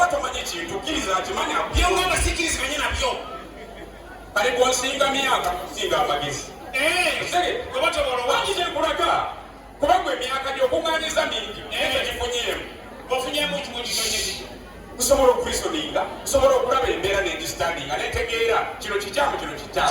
batamanyi kintu kkiriza akimanya byonga abasikirizi benye nabyo bali kunsinga myaka kusinga amagezi obakyekulaga eh, kuba gwe emyaka gyokuŋanyiza mingi naye tegifunyeemu ofunyemu kimukitonyeii kusobola okurisoninga kusobola okulaba embeera negisitandinga netegeera kino kikyamu kino kikyamu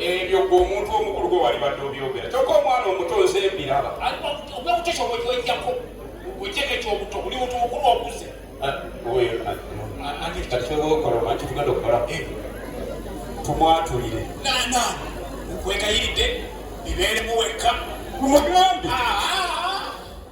ebyo gwe omuntu omukulu gwe walibadde obyogera kyokka omwana omuto nze mbiraba tumwatulire nkwegayiridde bibeeremu wekka mugambe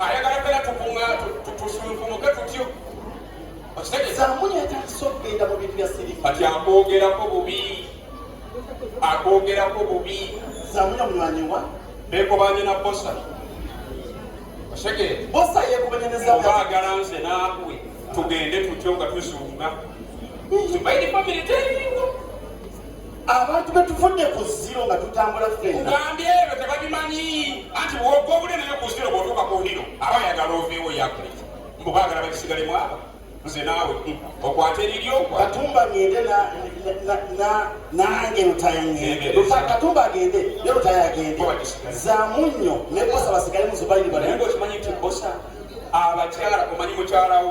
ayagala ddala tukunga tusunkumuke tutyo kati akwogerako bubi akwogerako bubi bekobanye na bosa obaagala nze naabwe tugende tutyo nga tuzunga abantu betuvudde ku ziro nga tutambula fenagambye ebyo tebabimanyi anti bwoga obunene ne ku ziro bwotuuka ku hiro aba yagala oveewo yakuli mbu bagala bakisigalemu abo nze naawe okwata eriryo katumba ngende nange lutayakatumba agende ne lutaya agende zamu nnyo ne bosa basigale muzubayiribaokimanyi nti bosa abakyala omanyi mukyalawo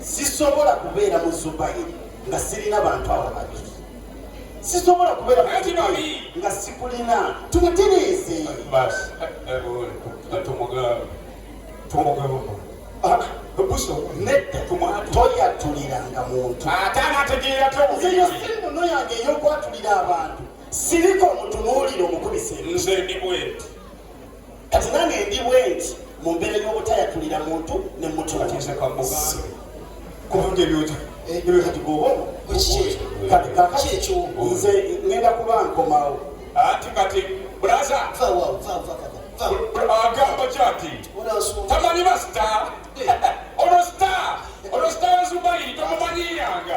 sisobola kubeera mu zubayiri nga sirina bantu abo babiri sisobola kubeera nga sikulina tubatereeze toyatuliranga muntu simuno yange eyokwatulira abantu siriko omutunuulire omukubise nze ndi bwenti kati nange ndi bwenti mu mbeera y'obutayatulira muntu ne mutuaekyonze ngenda kuba nkomawo ati kati bulaza agamba kyati tamanyi basita olwo sita olwo sita wazubairi tomumanyiyanga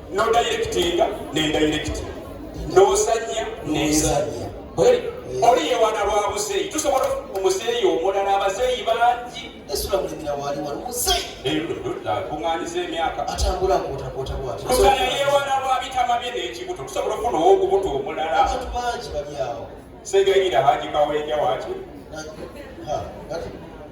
no directinga ne direct n'ozanya n'ezanya oli yewana lwa muzeeyi tusobola omuzeeyi omulala abazeeyi bangi kuŋaniza emyaka kugana yewana lwa bitama bye n'ekibuto tusobola ofuna owokubuto omulala segayira hajikawenja waki